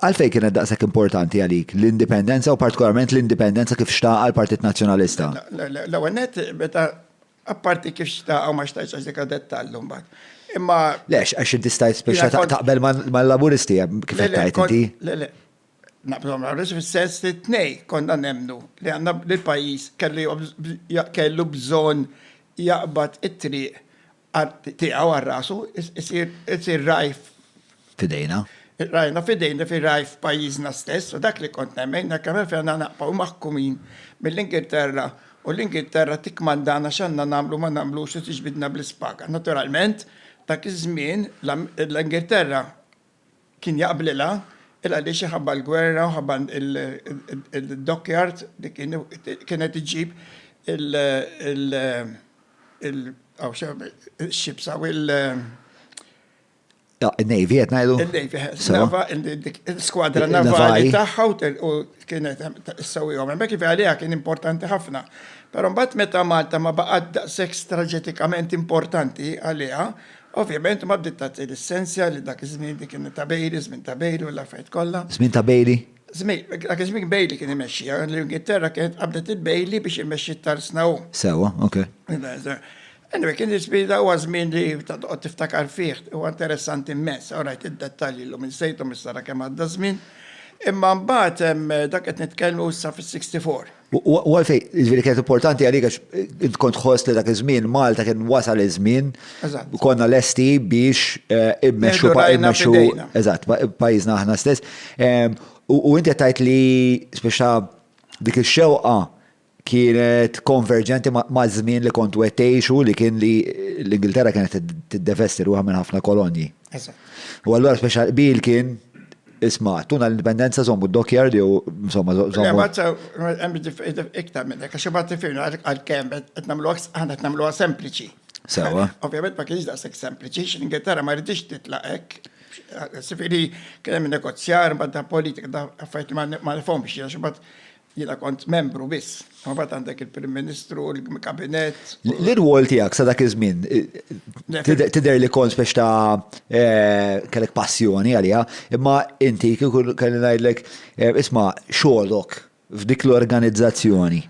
Għalfejn kienet daqshekk importanti għalik l-indipendenza u partikolarment l-indipendenza kif xtaqha l-Partit Nazzjonalista? L-ewwel nett, meta apparti kif xtaqha ma xtajtx għax dik dettal mbagħad. Imma Lex, għax inti stajt spiċċa taqbel mal-Laburisti kif qed tgħid inti. Le, le. Naqblu mal-Laburisti fis-sens li t-tnej konna nemmnu li għandna l-pajjiż kellu bżonn jaqbad it-triq tiegħu għal rasu isir ragħaj f'idejna. Rajna f'idejna fi ragħaj f'pajjiżna stess u dak li kont nemmen hekk hemm fejn għandna naqbgħu maħkumin mill-Ingilterra u l-Ingilterra tikkmandana x'għandna nagħmlu ma nagħmlux u tiġbidna bl-ispaga. Naturalment dak iż-żmien l-Ingilterra Kien jaqblilha, il għaliex iħabba l-gwerra u ħabba d-dockyard li kienet iġġib il-ships hawn il- Il-navy qed ngħidu? Il-navy, sewa. Il-skwadra navali tagħha u kienet issewwihom hemmhekk, jiġifieri għaliha kien importanti ħafna. Però mbagħad meta Malta ma baqgħet daqshekk straġetikament importanti għaliha, Ovvjament ma bdiet tagħti lissenzja li dak iż-żmien dik kien ta' Bailey, żmien ta' Bailey u l-affarijiet kollha. Żmien ta' Bailey? Żmien, dak iż-żmien Bailey kien imexxiha, l-Ingilterra kienet qabdet lil Bailey biex imexxi t-tarsna hu. Sewwa, ok. Anyway, kien iż-żmien da huwa żmien li ta' toqgħod tiftakar fih, huwa interessanti mmens, all right id-dettalji llum insejthom issa ara kemm għadda ż-żmien. Imma mbagħad hemm dak qed nitkellmu issa fis-sixty four. U għalfej, ġviri kienet importanti għalik għax int kont ħoss li dak iż-żmien Malta kien wasal iż-żmien. Konna lesti biex eh, immexxu immexxu eżatt pajjiżna aħna stess. U inti tajt li speċa dik ix-xewqa kienet konverġenti ma' żmien li kont wettejxu li kien li l-Ingilterra kienet tiddevesti ruħha minn ħafna kolonji. U allura speċa bil kien Isma, tuna l-indipendenza zommu d-dokjar li u insomma zommu. Le, maċċa, għemmi iktar minn hekk, għax ma tifirna għal kemm qed nagħmlu aħna qed nagħmluha sempliċi. Sewa. Ovvjament ma kienx daqshekk sempliċi, x'Ingilterra ma rridix titlaq hekk. Sifiri, kien hemm negozjar ma' da politika da affarijiet ma nifhomx, għax imbagħad Jiena kont membru biss. Mbagħad għandek il-Prim Ministru, il-Kabinett. L-irwol tiegħek sa dak iż-żmien tidher li kont biex ta' eh, kellek passjoni għaliha, imma inti kieku kelli ngħidlek eh, isma' xogħolok f'dik l-organizzazzjoni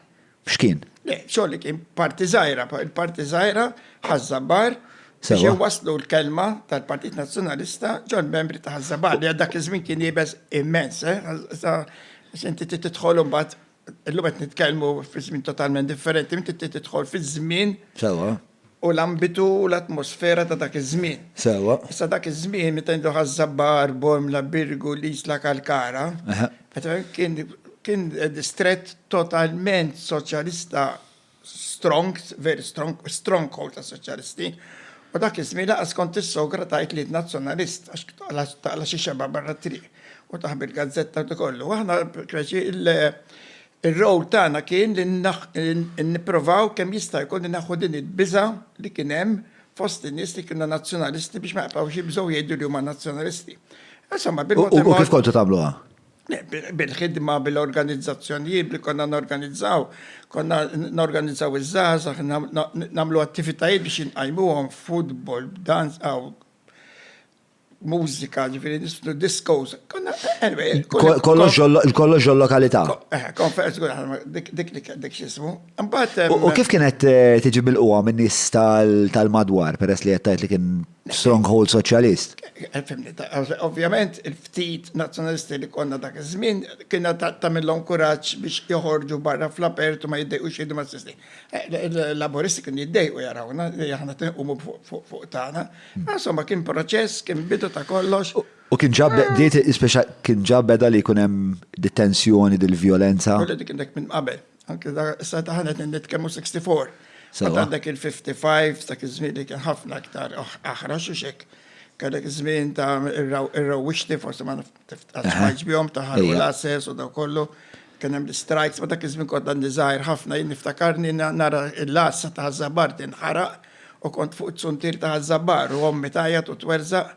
x'kien? Le, xogħol kien parti żgħira, il-parti żgħira ħażżabar biex waslu l-kelma tal-Partit Nazzjonalista ġol membri ta' ħażżabar li għaddak iż-żmien kien jibes immens, eh, Issa inti trid tidħol imbagħad illum qed nitkellmu fi żmien totalment differenti, inti trid tidħol fiż-żmien. Sewa. U l-ambitu u l-atmosfera ta' dak iż-żmien. Sewa. Issa dak iż-żmien meta jgħidu Ħaż-Żabbar, Bormla, Birgu, l-Isla Kalkara. Eħe. Qed kien kien distrett totalment soċjalista strong, very strong, stronghold ta' soċjalisti, u dak iż-żmien laqas kont tissogra tgħid li nazzjonalist għax taqla xi xeba barra triq u taħbi l-gazzetta u kollu. Aħna il-rowl tagħna kien li nipprovaw kemm jista' jkun naħu din il-biża li kien hemm fost in-nies li kienu nazzjonalisti biex ma jaqbgħux jibżgħu jgħidu li huma nazzjonalisti. Insomma, bil-mod. U kif kontu tagħmluha? Bil-ħidma bil-organizzazzjonijiet li konna norganizzaw, konna norganizzaw iż-żgħażagħ, nagħmlu attivitajiet biex inqajmuhom, futbol, danz, mużika, ġifieri nisfnu diskos. Kollox il-lokalità. Eh, konferenz, dik dik xismu. U kif kienet eh, tiġi mill-qwa minn nies tal-madwar, peress li qed li kien stronghold soċjalist. Ovvjament il-ftit nazzjonalisti li konna dak iż-żmien kienha tagħmilhom kuraġġ biex joħorġu barra fl-apertu ma jiddejqux jgħidu mas-sisti. Laburisti kienu jiddejqu jarawna li aħna tinqumu fuq tagħna. Insomma kien proċess, kien bidu ta' kollox. U kien ġab bdiet speċa kien ġab beda li jkun hemm detenzjoni dil-vjolenza. Dik kien dak minn qabel. Anke da sa taħna qed nitkellmu 64. Sa għandek il-55 dak iż-żmien li kien ħafna aktar aħra xi xek. Kellek iż-żmien ta' ir-rawwixti forsi ma tiftax bihom ta' ħarru l-assess u daw kollu. Kien hemm l-strikes, ma dak iż-żmien kont għandi żgħir ħafna jien niftakarni nara l-għassa ta' żabbar tinħaraq u kont fuq it-suntier ta' żabbar u ommi tgħajjat u twerżaq.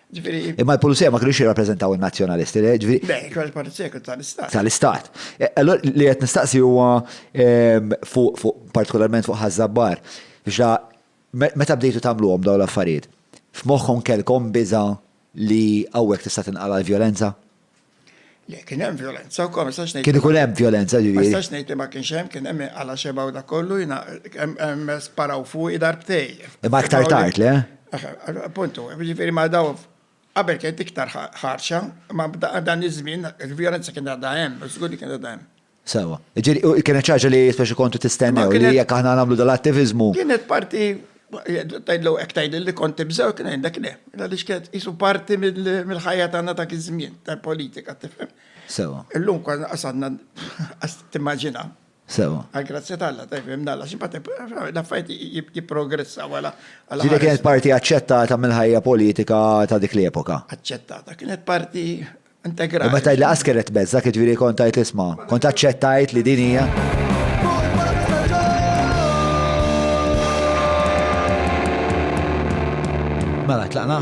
Imma l-pulizija ma kienux jirrappreżentaw in-nazzjonalisti, eh, ġifieri. Le, kienu l-pulizija kienu tal-istat. Tal-istat. E, allora li qed nistaqsi huwa ehm, fuq fuq partikolarment fuq ħażabbar. Biex la me- meta bdejtu tagħmluhom dawn l-affarijiet, f'moħħkom kellkom biża' li hawnhekk tista' tinqala' l-vjolenza? Le, kien hemm vjolenza wkoll, ma nistax ngħid. Kien ikun hemm vjolenza ġifieri. Ma nistax ngħid li ma kienx hemm, kien hemm għala xeba u dak kollu jiena hemm sparaw fuqi darbtej. Imma aktar tard, le? Appuntu, ġifieri ma daw qabel kienet iktar ħarxa, ma dan iż-żmien il-vjolenza kien għadha hemm, żgur li kien għadha hemm. Sewa. Ġifieri kienet xi ħaġa li speċi kontu tistennew li jekk aħna nagħmlu dal-attiviżmu. Kienet parti tgħidlu hekk tgħidli li kont tibżgħu kien għandek le. Għaliex kienet qisu parti mill-ħajja tagħna dak iż-żmien tal-politika tifhem. Sewa. Illum kważi qas għandna qas timmaġina. Sewa. Għall-grazzja ta' Alla tifhem nalla xi l-affarijiet jipprogressaw għala. Ġifieri kienet parti aċċettata mill-ħajja politika ta' dik l-epoka. Aċċettata. Kienet parti Integrali. Imma tajt li qas kienet mezza, jiġifieri kont tajt isma', kont aċċettajt li din hija. Mela, tlaqna?